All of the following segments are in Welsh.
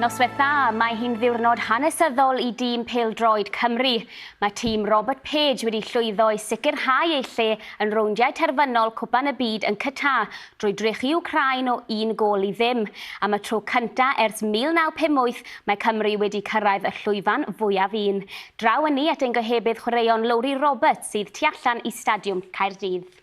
Noswaith dda, mae hi'n ddiwrnod hanesyddol i dîm pêl-droed Cymru. Mae tîm Robert Page wedi llwyddo i sicrhau ei lle yn rowndiau terfynol Cwpan y Byd yn Qatar Drwy drechu Wcráin o un gôl i ddim, am y tro cyntaf ers 1958 mae Cymru wedi cyrraedd y llwyfan fwyaf un. Draw ynni at ein gohebydd chwaraeon Lowri Roberts sydd tu allan i Stadiwm Caerdydd.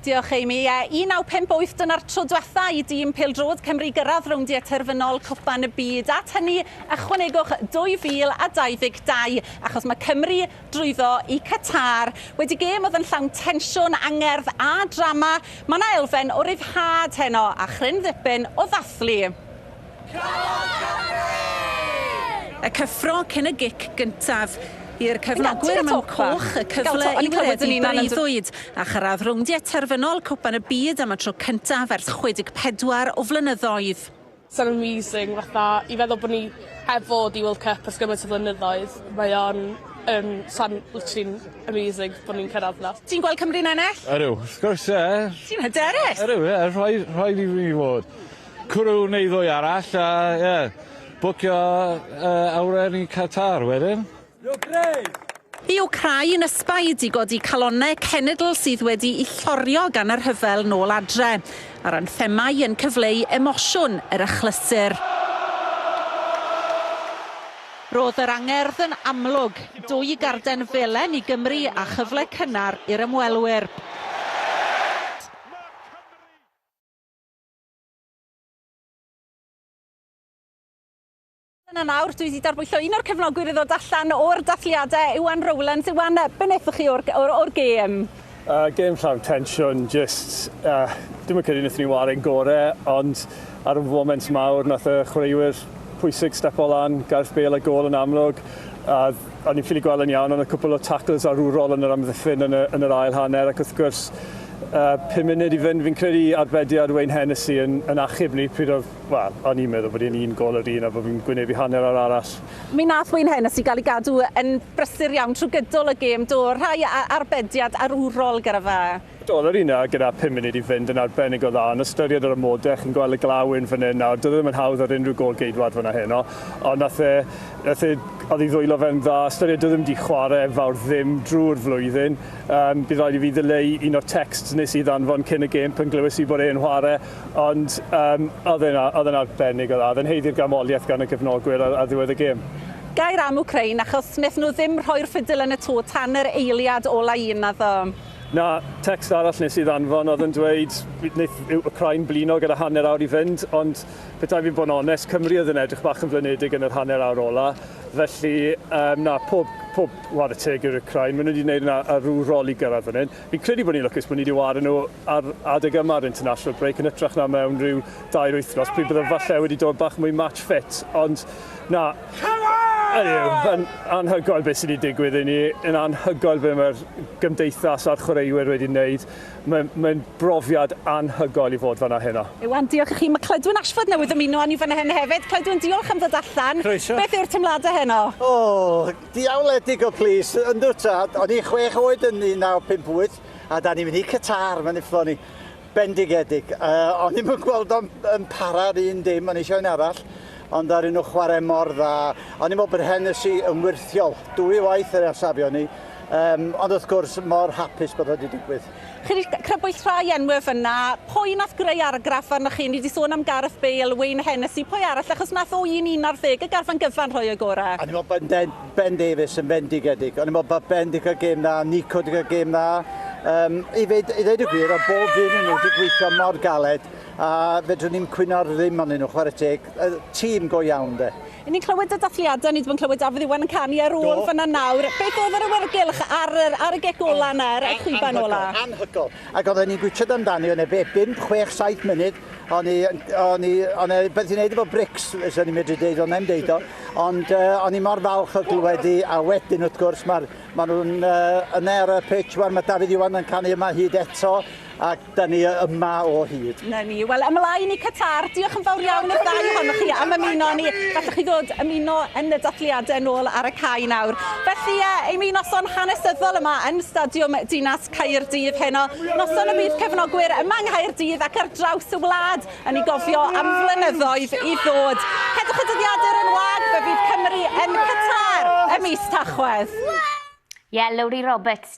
Diolch Amy. Ie, 1958 dyna'r tro diwetha' i dîm pêl-droed Cymru gyrraedd rowndiau terfynol Cwpan y Byd. At hynny, ychwanegwch 2022, achos mae Cymru drwyddo i Qatar. Wedi gêm oedd yn llawn tensiwn, angerdd a drama, mae 'na elfen o ryddhad heno a chryn ddipyn o ddathlu. Cafodd Cymru! Y cyffro cyn y gic gyntaf. I'r cefnogwyr mewn coch y cyfle i wireddu breuddwyd a chyrraedd rowndiau terfynol Cwpan y Byd am y tro cyntaf ers 64 o flynyddoedd. So'n amazing fatha i feddwl bo' ni heb fod i World Cup ers gymaint o flynyddoedd mae o'n yym so'n literally'n amazing bo' ni'n cyrradd 'na. Ti'n gweld Cymru'n ennill? Ydw wrth gwrs ie. Ti'n hyderus? Ydw ie rhaid rhaid i fi fod. Cwrw neu ddwy arall a ie bwcio yy awyren i Qatar wedyn. Y Wcráin yn ysbaid i godi calonnau cenedl sydd wedi'u llorio gan y rhyfel nôl adre, a'r anthemau yn cyfleu emosiwn yr achlysur. Roedd yr angerdd yn amlwg, dwy garden felen i Gymru a chyfle cynnar i'r ymwelwyr. Dyna nawr, dwi 'di darbwyllo un o'r cefnogwyr i ddod allan o'r dathliadau, Iwan Rowlands. Iwan, yy, be wnaethoch chi o'r, o'r, o'r gêm? Yy, gêm llawn tensiwn, jyst, yy, dwi'm yn credu wnaethon ni ware'n gore, ond ar y foment mawr nath y chwaraewyr pwysig stepo lan, Gareth Bale a gôl yn amlwg, a o'n i'n ffili gweld yn iawn, ond y cwpl o tacls arwrol yn yr amddiffyn yn y, yn yr ail hanner, ac wrth gwrs, yy, pum munud i fynd, fi'n credu arbediad Wayne Hennessey yn, yn achub ni pryd oedd Wel, o'n i'n meddwl bod e'n un gol yr un a bod fi'n gwynebu hanner o'r arall. Mi wnaeth Wayne Hennessey gael ei gadw yn brysur iawn trwy gydol y gêm, do, rhai arbediad arwrol gyda fe. Do, oedd yr un 'na gyda phum munud i fynd yn arbennig o dda, ond ystyried yr amodau, chi'n gweld y glaw yn fan hyn nawr, doedd e ddim yn hawdd ar unrhyw gôl geidwad fan'na heno, ond nath e, nath e, oedd ei ddwylo fe'n dda, ystyried doedd e ddim wedi chwarae fawr ddim drwy'r flwyddyn. Yym, bydd rhaid i fi ddileu un o'r texts nes i ddanfon cyn y gêm pan glywes i bod e'n chwarae, Ond um, oedd e'n oedd e'n arbennig o dda. Oedd e'n heiddi'r ganmoliaeth gan y cefnogwyr ar, ar ddiwedd y gêm. Gair am Ukraine achos wnaethon nhw ddim rhoi'r ffidil yn y tŵ tan yr eiliad ola un, naddo? Na, text arall nes i ddanfon oedd yn dweud wneith Ukraine blino gyda hanner awr i fynd, ond petai fi'n bod yn onest, Cymru oedd yn edrych bach yn flinedig yn yr hanner awr ola. Felly, um, na, pob, pob war y teg i'r Ukraine. Maen nhw wedi gwneud yna ar rhyw rol i gyrraedd fan hyn. Fi'n credu bod ni'n lwcus bod ni wedi wario nhw ar adeg yma ar international break yn hytrach na mewn rhyw dair wythnos pryd byddaf falle wedi dod bach mwy match fit. Ond na, yn anhygoel beth sydd wedi digwydd i ni, yn anhygoel beth mae'r gymdeithas a'r chwaraewyr wedi wneud. Mae'n mae brofiad anhygoel i fod fanna heno. Iwan, diolch i chi. Mae Clydwen Ashford newydd ymuno â ni fanna heno hefyd. Clydwen, diolch am ddod allan. Croeso. Beth yw'r teimladau heno? O! Diawledig o plis, yndw tad, o'n i chwech oed yn 1958 a da ni'n mynd i Qatar, mae'n ifflo ni. Bendigedig. Uh, o'n i'm yn gweld o'n yn para ar un dim, o'n eisiau un arall, ond ar un o chwarae mor dda. O'n i'n meddwl bod Hennessy yn wirthiol, dwy waith yr afsafio ni, um, ond wrth gwrs mor hapus bod wedi digwydd. Chi 'di crybwyll rhai enwe fynna. Pwy nath greu argraff arnoch chi? Ni 'di sôn am Gareth Bale, Wayne Hennessey, pwy arall? Achos nath o un un ar ddeg y garfan gyfan rhoi o'i gore. O'n i'n meddwl bod Ben Ben Davies yn fendigedig. O'n i'n meddwl bod Ben 'di cael gêm dda, Nico 'di cael gêm dda. Um, I fyd, i ddweud y gwir, o bob un yn nhw wedi gweithio mor galed a fedrwn ni'n cwyno'r ddim ond nhw, chwarae teg. Tîm go iawn de. Yn ni'n clywed y dathliadau, ni ddim yn clywed Dafydd Iwan yn canu ar ôl fanna nawr. Beth oedd yr awyrgylch ar yr ar y gec ola yna, ar y chwiban ola? Anhygol, ac oedden ni'n gwitsiad amdani, o'n e be, bum, chwech, saith munud, o'n i, o'n i, o'n e beth i'n neud efo brics, so ni'n medru deud o'n e'n deud o, ond uh, o'n i mor falch o glywed i, a wedyn wrth gwrs, mae ma nhw'n uh, yna ar y pitch, wan, mae Dafydd Iwan yn canu yma hyd eto, ac Da ni yma o hyd. Na ni. Wel, ymlaen i Qatar. Diolch yn fawr iawn i'r ddau ohonoch chi am ymuno ni. Gallwch chi ddod ymuno yn y dathliadau nôl ar y cae nawr. Felly, e, ei mi noson hanesyddol yma yn Stadiwm Dinas Caerdydd heno. Noson y bydd cefnogwyr yma yng Nghaerdydd ac ar draws y wlad yn ei gofio am flynyddoedd i ddod. Cedwch y dyddiadur yn wag, fe fydd Cymru yn Qatar ym mis Tachwedd. Ie, Lowri Roberts.